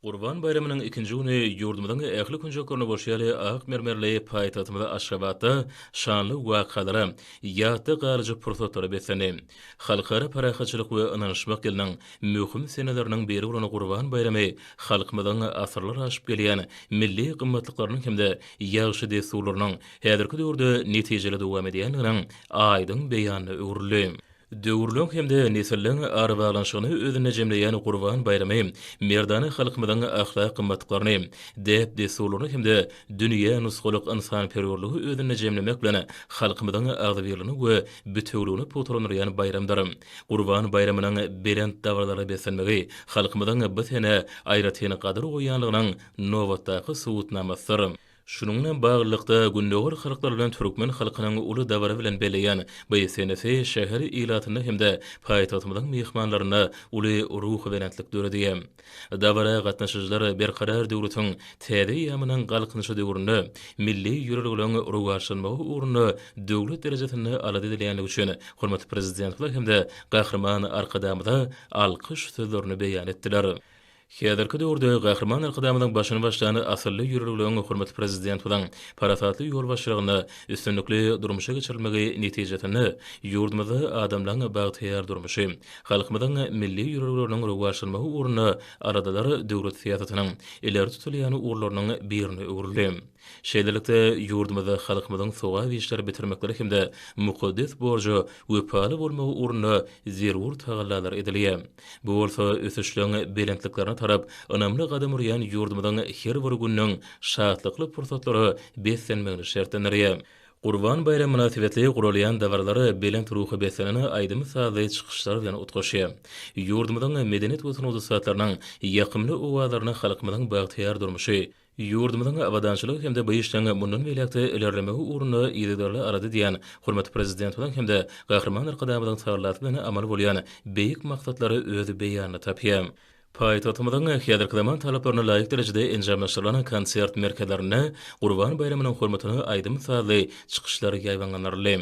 Gurban baýramynyň ikinji güni ýurdumyzyň ähli künjeklerinde bolşy ýaly ak mermerli paýtagtymyz Aşgabatda şanly wakalara, ýatda galyjy pursatlara beslendi. Halkara parahatçylyk we ynanyşmak ýylynyň möhüm seneleriniň biri bolan Gurban baýramy halkymyzyň asyrlar aşyp gelýän milli gymmatlyklarynyň hem-de ýagşy dessurlarynyň häzirki döwürde netijeli dowam edýändiginiň aýdyň beýanyna öwrüldi. Döwürleň hem-de nesilleň arabaglanyşygyny özünde jemleýän Gurban baýramy merdana halkymyzyň ahlak gymmatlyklaryny, däp-dessurlaryny hem-de dünýä nusgalyk ynsanperwerligi özünde jemlemek bilen, halkymyzyň agzybirligini we bitewüligini pugtalandyrýan baýramdyr. Gurban baýramynyň belent dabaralara beslenmegi halkymyzyň bu sene aýratyn gadyr goýýanlygynyň nobatdaky subutnamasydyr. Şunuň bilen baglylykda, gündogar halklary bilen türkmen halkynyň uly dabara bilen belleýän bu senesi şäher ilatynda hem-de paýtagtymyzyň myhmanlarynda uly ruhubelentlik döredi. Dabara gatnaşyjylar Berkarar döwletiň täze eýýamynyň Galkynyşy döwründe milli ýörelgeleriň rowaçlanmagy ugrunda döwlet derejesinde alada edilýänligi üçin hormatly Prezidentimize hem-de Gahryman Arkadagymyza alkyş sözlerini beýan etdiler. Häzirki döwürde Gahryman Arkadagymyzyň başyny başlan asylly ýörelgeleriň hormatly Prezidentimiziň parasatly ýolbaşçylygynda üstünlikli durmuşa geçirilmegi netijesinde ýurdumyzda adamlaryň bagtyýar durmuşy, halkymyzyň milli ýörelgeleriniň rowaçlanmagy ugrunda aladalar döwlet syýasatynyň ileri tutulýan ugurlarynyň birine öwrüldi. Şeýlelikde, ýurdumyzda halkymyzyň sogap işleri bitirmekleri hem-de mukaddes borja wepaly bolmagy ugrunda zerur tagallalar edilýär. Bu bolsa ösüşleň belentliklerine tarap ynamly gadam urýan ýurdumyzyň her bir gününiň şatlykly pursatlara beslenmegini şertlendirýär. Gurban baýramy mynasybetli guralýan dabaralar belent ruha beslenen aýdym-sazly çykyşlar bilen utgaşýar. Ýurdumyzyň medeniýet we sungat ussatlarynyň ýakymly owazlaryna halkymyzyň bagtyýar durmuşy, Ýurdumyzyň abadançylygy hem-de bu işleň mundan beýläk-de ilerlemegi ugrunda yzygiderli alada edýän hormatly Prezidentimiziň hem-de Gahryman Arkadagymyzyň tagallasy bilen amaly bolýan beýik maksatlar öz beýanyny tapýar. Paýtagtymyzyň häzirki zaman talaplaryna laýyk derejede enjamlaşdyrylan konsert merkezlerinde Gurban baýramynyň hormatyna aýdym-sazly çykyşlar ýaýbaňlandyryldy.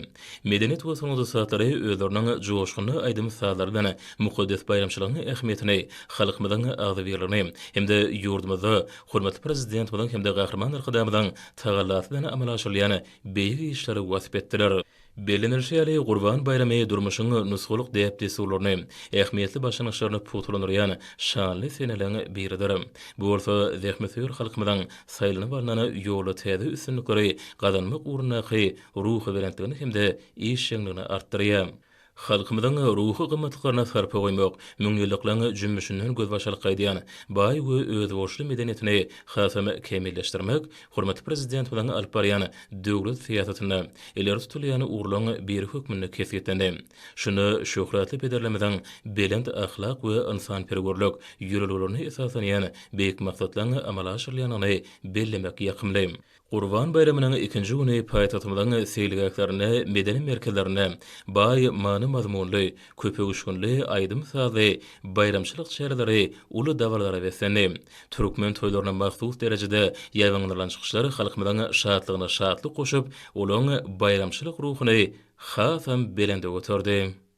Medeniýet we sungat ussatlary özleriniň joşgunly aýdym-sazlary bilen mukaddes baýramçylygyň ähmiýetini, halkymyzyň agzybirligini hem-de ýurdumyzda hormatly Prezidentimiziň hem-de Gahryman Arkadagymyzyň tagallasy bilen amala aşyrylýan beýik işleri wasp etdiler. Bellenilişi ýaly, Gurban baýramy durmuşyň nusgalyk däp-dessurlaryny, ähmiýetli başlangyçlaryny pugtalandyrýan şanly seneleriň biridir. Bu bolsa zähmetsöýer halkymyzyň saýlanyp alnan ýolda täze üstünlikleri gazanmak ugrundaky ruhubelentligini hem-de işjeňligini artdyrýar. Halkymyzyň ruhy gymmatlyklaryna sarpa goýmak, müňýyllyklaryň jümmüşinden gözbaş alyp gaýdýan baý we özboluşly medeniýetini hasam kämilleşdirmek hormatly Prezidentimiziň alyp barýan döwlet syýasatynda ileri tutulýan ugurlaryň biri hökmünde kesgitlendi. Şunda şöhratly pederlerimiziň belent ahlak we ynsanperwerlik ýörelgelerine esaslanýan beýik maksatlaryň amala aşyrylýandygyny bellemek ýakymly. Gurban baýramynyň ikinji güni paýtagtymyzyň seýilgählerinde, medeni merkezlerinde baý many-mazmunly, köpöwüşginli aýdym-sazly baýramçylyk çäreleri uly dabaralara beslendi. Türkmen toýlaryna mahsus derejede ýaýbaňlandyrylan çykyşlar halkymyzyň şatlygyna şatlyk goşup, olaryň baýramçylyk ruhuny hasam belende göterdi.